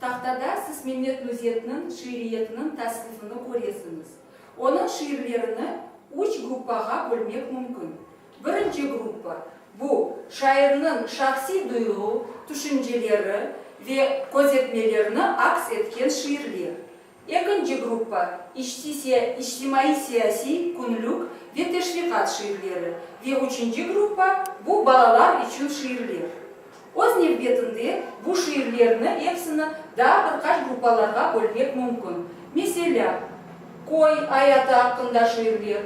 Tahtada siz Mehmet Nuzetniñ şiiriyetiniñ tasnifini köresiñiz. Onıñ şiirlerini üç gruppağa bölmek mümkün. Birinci gruppa, bu, şairniñ şahsiy duyğu, tüşünceleri ve közetmelerini aks etken şiirler. Ekinci gruppa, içtimaiy-siyasiy, künlük ve teşviqat şiirleri, ve üçünci gruppa, bu balalar içün şiirler. Öz nevbetinde, bu şiirlerni episini daa bir qaç gruppalarğa bölmek mümkün, meselâ, köy ayatı aqqında şiirler,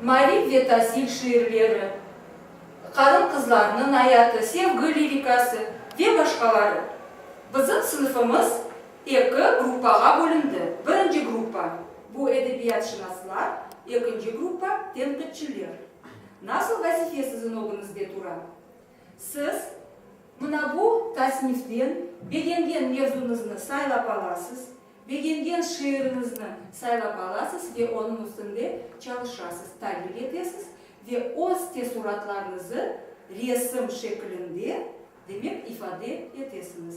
maarif ve tasil şiirleri, qarın-qızlarnıñ ayatı, sevgi lirikası ve başqaları. Bizim sınıfımız. Eki gruppağa bölündi. Birinci gruppa, bu edebiyatşınaslar, ekinci gruppa, tenqitçiler. Nasıl vazife siziñ ögüñizde tura? Siz. Mına bu tasniften begengen mevzuñıznı saylap alasız, begengen şiiriñizni saylap alasız ve onıñ üstünde çalışasız, tadbiq etesiz ve öz teessuratlarıñızı resim şekilinde, demek, ifade etesiñiz.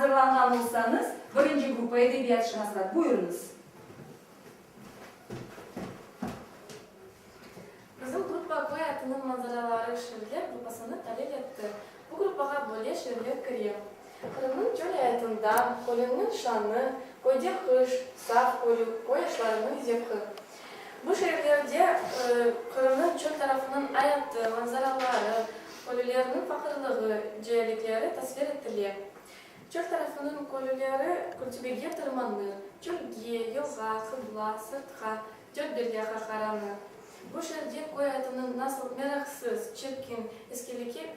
azırlanğan olsañız, birinci gruppa, edebiyatşınaslar, buyurıñız. Bizim gruppa toy atınıñ manzaraları şiirler gruppasını talil etti. Bu gruppağa böyle şiirler kire. Qırımnıñ çöl ayatında, Kölünnıñ şanı, Köyde qış, Saf kölü, Köy aşlarınıñ zevqi. Bu şiirlerde Qırımnıñ çöl tarafınıñ ayatı, manzaraları, kölülerniñ faqırlığı, cealikleri tasvir etile. Çöl tarafınıñ kölüleri kültibege tırmanır, çölge, yılğa, qıbla, sırtqa, Dört Derya Qahtaranı. Bu şerde köy atınıñ nasıl meraqsız, çirkin, iskeleke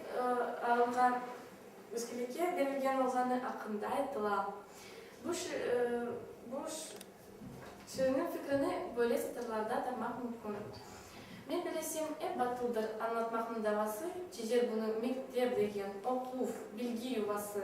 alınğan, iskeleke berilgen olğanı aqqında aytıla. Bu bu şiirniñ fikrini böyle satırlarda tanmaq mümkün, Men bilesem, ep batıldır, añlatmaqnıñ davası, çezer bunı mektep degen, oquv, bilgi yuvası.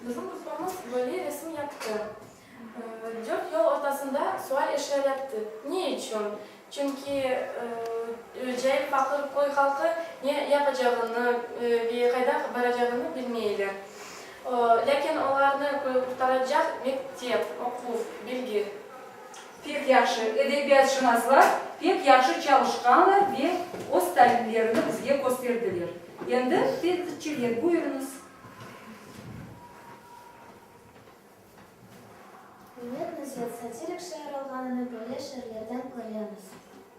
Bizim grupamız böyle resim yaptı. Dört yol ortasında sual eşya yaptı. Ne içün? Çünki cayır paqır köy halqı ne yapacağını ve qayda baracağını bilmeyler. Lâkin olarnı qurtaracaq mektep, oquv, bilgi. Pek yahşı, edebiyatşınaslar pek yahşı çalışqanlar ve öz talimlerini bizge kösterdiler. Endi tenqitçiler, buyurıñız. Milletni ziyet satirik şiir olğanını böyle şiirlerden köremiz.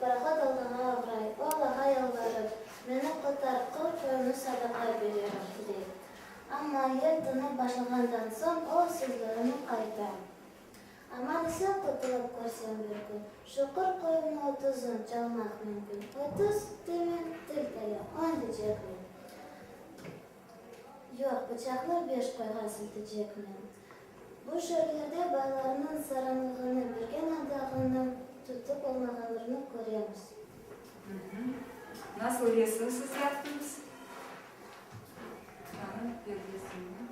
Parahod olğanıma oğray, o Allağa yalvarıp, meni qurtar, qırq qoyunı sadaqa bererim, dey. Amma yer tınıp başlağandan soñ o sözlerine qayta. Aman isen qurtulıp körsen bir kün, şu qırq qoyunı otuzun çalmaq mümkün. Otuz, deymen, til taya, on deycekmen. Yoq, bıçaqlar beş qoyğa siltecekmi? Bu şeerlerde baylarnıñ saranlığını bergen adağınıñ tutıp olmağanrını köremiz. Nasıl yesiniñ siz yaptıñız? Bıçağnıñ perdesini.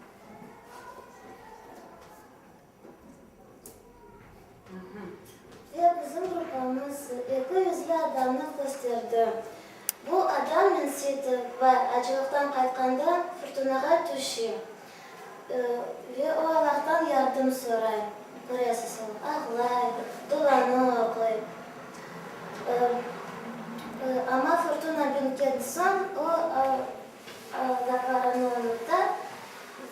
Ve bizim grupamız eki yüzli adamnı kösterdi. Bu adam mensitip ve acılıqtan qaytqanda furtunağa tüşe. Ve o Allahtan yardım soray, köresiz, ağlay, duvanı oquy. Amma furtuna bitken soñ o zatlarını unuta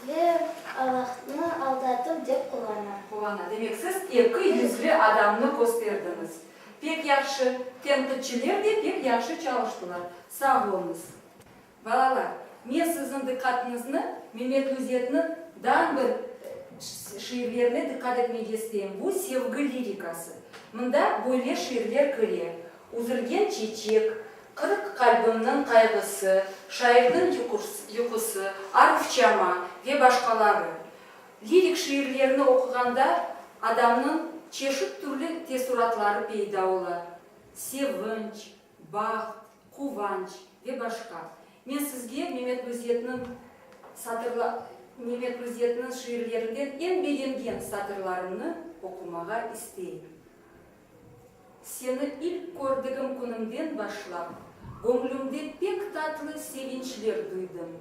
ve Allahnı aldatıv dep qulana. Qulana. Demek, siz eki yüzli adamnı kösterdiñiz. Pek yahşı. Tenqitçiler de pek yahşı çalıştılar. Sağ oluñız. Balalar, men siziñ diqqatıñıznı Memetlüzetniñ dan bir şiirlerine diqqat etmege isteyim. Bu sevgi lirikası. Mında böyle şiirler kire, Üzülgen çeçek, qırıq qalbimniñ qayğısı, şairniñ yuqusı, Arufçama ve başqaları. Lirik şiirlerini oquğanda adamnıñ çeşit türlü teessuratları peyda ola, sevinç, baht, quvanç ve başqa. Men sizge Memet Müzzetniñ şiirlerinden eñ begengen satırlarımnı oqumağa isteyim. Seni ilk kördigim künimden başlap, göñlümde pek tatlı sevinçler duydım.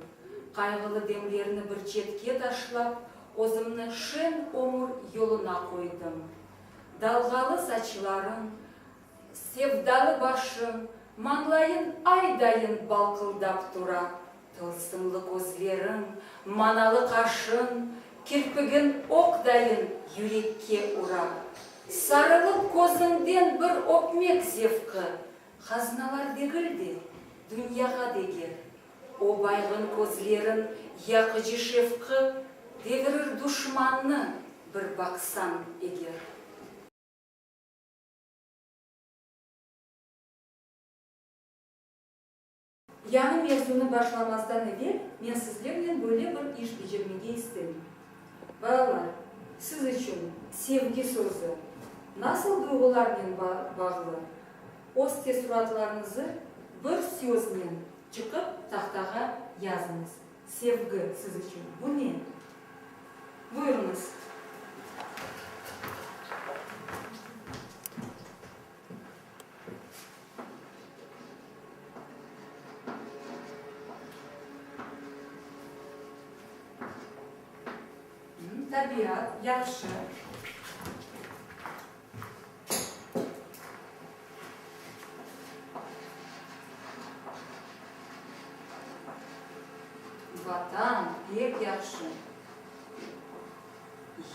Qayğılı demlerni bir çetke taşlap, özümni şeñ ömür yoluna qoydım. Dalğalı saçlarıñ, sevdalı başıñ, mañlayıñ ay dayın balqıldap tura. Tılsımlı közleriñ, manalı qaşıñ, kirpigiñ oq dayın yürekke ura. Sarılıp közüñden bir öpmek zevqi, haznalar degil de, dünyağa deger. O baygın közleriñ yaqıcı şefqi devirir duşmannı bir baqsañ eger. Yañı mevzunı başlamastan evel men sizlernen böyle bir iş becermege istem. Balalar, siz içün sevgi sözü nasıl duyğularnen bağlı? Öz teessuratlarıñızı bir söznen çıqıp tahtağa yazıñız. Sevgi siz içün bu ne? Buyurıñız. Tabiat, yahşı. Vatan, pek yahşı.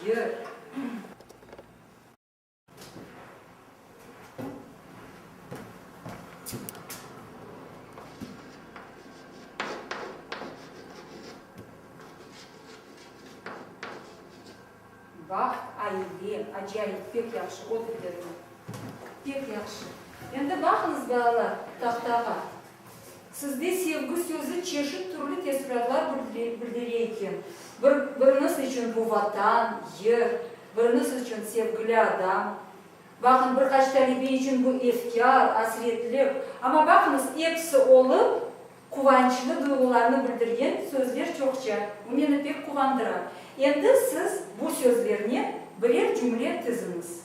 Yır. Baht, aile, acayip, pek yahşı, otur yerine. Pek yahşı. Endi baqıñız, balalar, tahtağa. Sizde sevgi sözü çeşit türlü tesüratlar bildire eken. Biriniz içün bu Vatan, yer, biriniz içün sevgili adam. Baqıñ, bir qaç talebe içün bu efkâr, asretlik. Amma baqıñız, episi olıp, quvançlı duyğularnı bildirgen sözler çoqça. Bu meni pek quvandıra. Endi siz bu sözlernen birer cümle tiziñiz.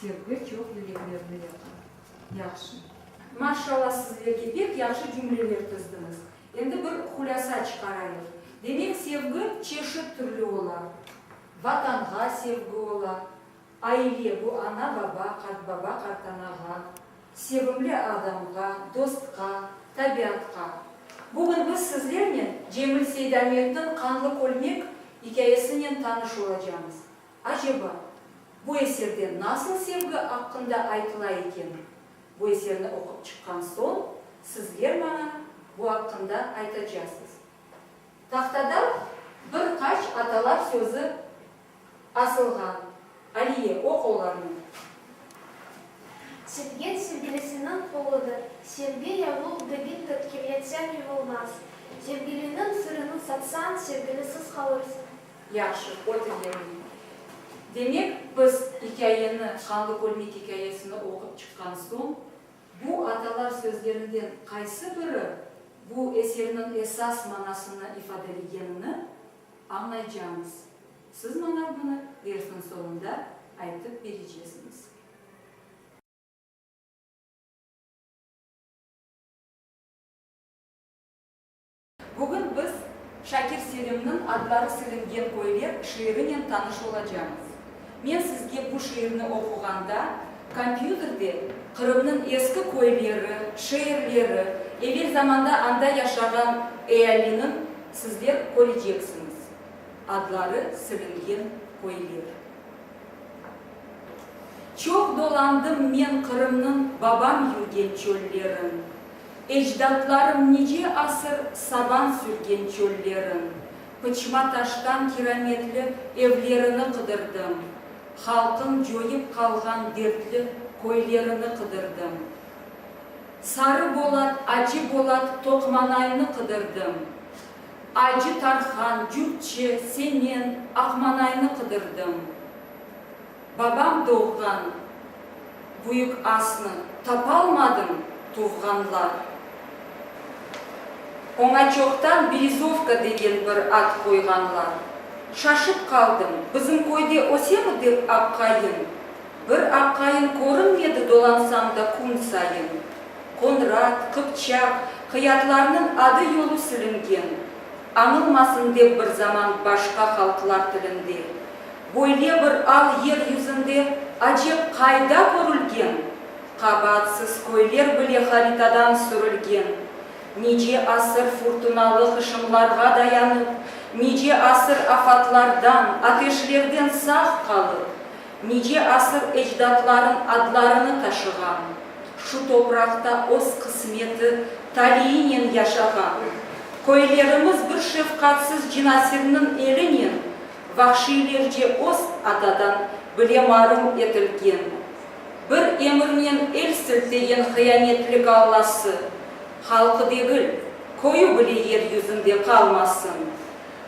Sevgi çoq yüreklerni yaka. Yahşı. Maşşalla sizlerge pek yahşı cümleler tizdiñiz. Endi bir hulâsa çıqarayıq. Demek sevgi çeşit türlü ola. Vatanğa sevgi ola. Aile, bu ana baba, qartbaba qartanağa, sevimli adamğa, dostqa, tabiatqa. Bugün biz sizlernen Cemil Seydahmetniñ Qanlı kölmek ikâyesinen tanış olacamız. Aceba, bu eserde nasıl sevgi aqqında aytıla eken? Bu eserni oqup çıqqan soñ, sizler maña bu aqqında aytacasız. Tahtada bir qaç atalar sözü asılğan. Aliye, oq olarnı. Sevgen sevgilisiniñ qoludır. Sevgi yavuq degil tıt ki, yetsem yuvulmaz. Sevgiliniñ sırını satsañ, sevgilisiz qalırsıñ. Yahşı, öte yerine. Demek, biz ikâyeni, Qanlı Kölmek ikâyesini oqup çıqqan soñ, bu atalar sözlerinden qaysı biri bu eserniñ esas manasını ifadelegenini añlaycağımız. Siz maña bunı dersniñ soñunda aytıp berecesiñiz. Bugün biz Şakir Selimniñ Adları silingen köyler şiirinen tanış olacamız. Men sizge bu şiirni oquğanda, kompyuterde Qırımnıñ eski köyleri, şeerleri, evel zamanda anda yaşağan ealiniñ sizler köreceksiñiz. Adları silingen köyler. Çoq dolandım men Qırımnıñ babam yürgen çöllerin. Ecdatlarım nice asır saban sürgen çöllerin, pıçma taştan kirametli evlerini qıdırdım, halqın coyıp qalğan dertli köylerini qıdırdım, Sarı Bolat, Acı Bolat, Toqmanaynı qıdırdım, Acı Tarhan, Cürtçi, Semen, Aqmanaynı qıdırdım. Babam doğğan büyük asnı tapalmadım, tuvğanlar. Oña çoqtan Berezovka degen bir ad qoyğanlar. Şaşıp qaldım, bizim köyde ösemi dep aqayın. Bir aqayın körünmedi dolansam da kün sayın. Qonrat, Qıpçaq, qıyatlarnıñ adı-yolu silingen. Añılmasın dep bir zaman başqa halqlar tilinde. Böyle bir al yer yüzünde acep qayda körülgen? Qabaatsız köyler bile haritadan sürülgen. Nice asır furtunalı hışımlarğa dayanıp, nice asır afatlardan, ateşlerden sağ qalıp, nice asır ecdatların adlarını taşığan, şu topraqta öz qısmeti, taliinen yaşağan köylerimiz bir şefqatsız cinasirniñ elinen, vahşiylerce öz atadan bile marum etilgen, bir emirnen el siltegen hıyanetli gallası, halqı degil, köyü bile yer yüzünde qalmasın.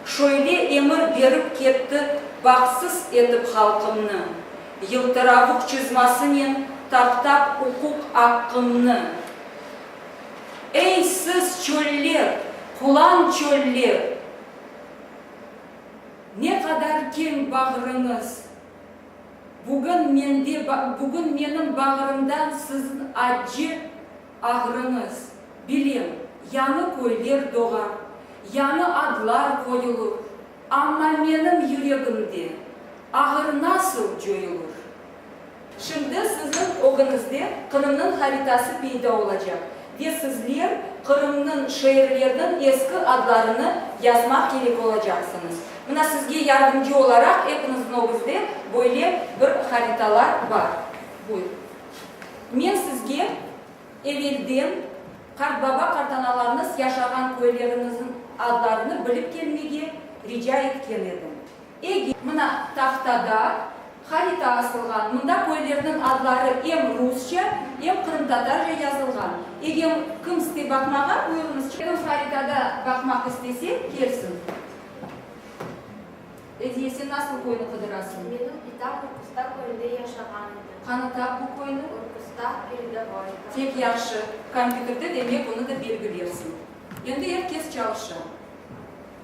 Şöyle emir berip ketti Bahtsız etip halqımnı, yıltıravuq çizmasınen taptap uquq aqqımnı. Ey, siz, çöller, qulan çöller! Ne qadar keñ bağrıñız! Bugün mende, bugün menim bağrımdan sizin acci ağrıñız. Bilem, yañı köyler doğar, yañı adlar qoyulur, amma menim yüregimde ağır nasıl coyulur? Şimdi siziñ ögüñizde Qırımnıñ haritası peyda olacaq ve sizler Qırımnıñ şeerleriniñ eski adlarını yazmaq kerek olacaqsıñız. Mına sizge yardımcı olaraq epiñizniñ ögüzde böyle bir haritalar bar. Buyur. Men sizge evelden qartbaba-qartanalarıñız yaşağan köyleriñizniñ adlarını bilip kelmege rica etken edim. Ege, mına, tahtada, harita asılğan, mında köylerniñ adları em rusça, em qırımtatarca yazılğan. Egem kim istey baqmağa, buyurıñız. Kim haritada baqmaq istese, kelsin. Ediye, sen nasıl köyni qıdırasıñ? Menim itam Urkusta köyünde yaşağan edi. Qanı tap bu köyni. Urkusta, Peredovoyka. Pek yahşı. Kompyuterde, demek, onı da belgilersiñ. Endi er kes çalışa.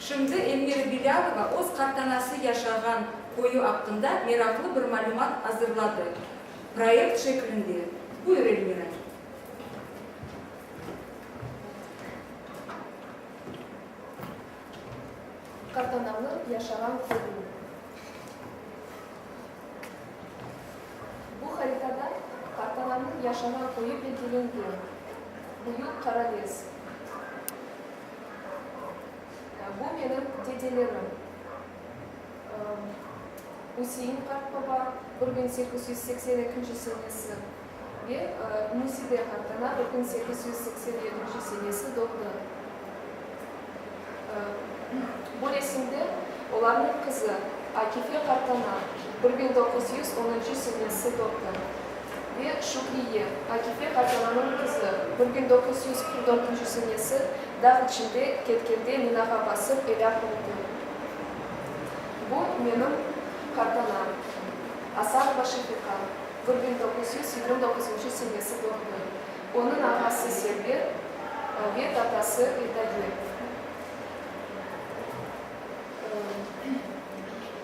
Şimdi Elmira Bilâlova öz qartanası yaşağan köyü aqqında meraqlı bir malümat azırladı, proyekt şeklinde. Buyur, Elmira. Qartanamnıñ yaşağan köyü. Bu haritada qartanamnıñ yaşağan köyü belgilengen. Büyük Qarales. Bu menim dedelerim, Üsein qartbaba, bir biñ sekiz yüz seksen ekinci senesi, ve Nuside qartana, bir biñ sekiz yüz seksen yedinci senesi doğdı. Bu resimde olarnıñ qızı Akife qartana, bir biñ doquz yüz onuncu senesi doğdı, ve Şükriye, Akife qartalannıñ qızı, bir biñ doquz yüz qırq dörtünci senesi dağ içinde ketkende minağa basıp elâk oldı. Bu menim qartanam, Asarova Şefiqa, bir biñ doquz yüz yigirmi doquzuncu senesi doğdı. Onıñ ağası Server ve tatası Edaye.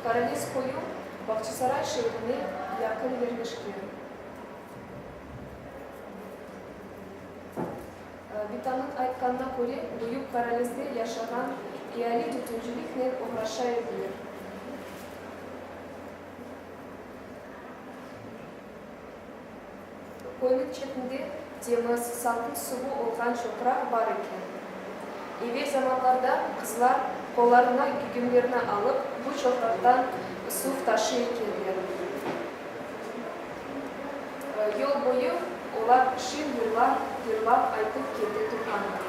Karanes köyü. Bağçasaray şeerine yaqın yerleşken. Bitanıñ aytqanına köre, büyük Qaralezde yaşağan eali tütünciliknen oğraşa ediler. Köyniñ çetinde temiz, salqın suvu olğan çoqraq bar eken. Evel zamanlarda qızlar qollarına gügümlerni alıp, bu çoqraqtan suv taşıy ekenler. Yol boyu olar şin yırlar yırlap aytıp kete turğanlar.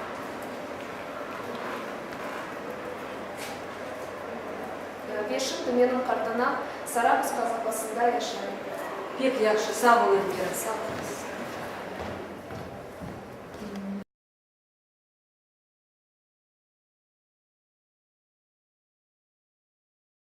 Beşim tümeniñ qartana Sarabuz qazabasında yaşayım. Pek yahşı, sağ ol Elvira, sağ olasıñ.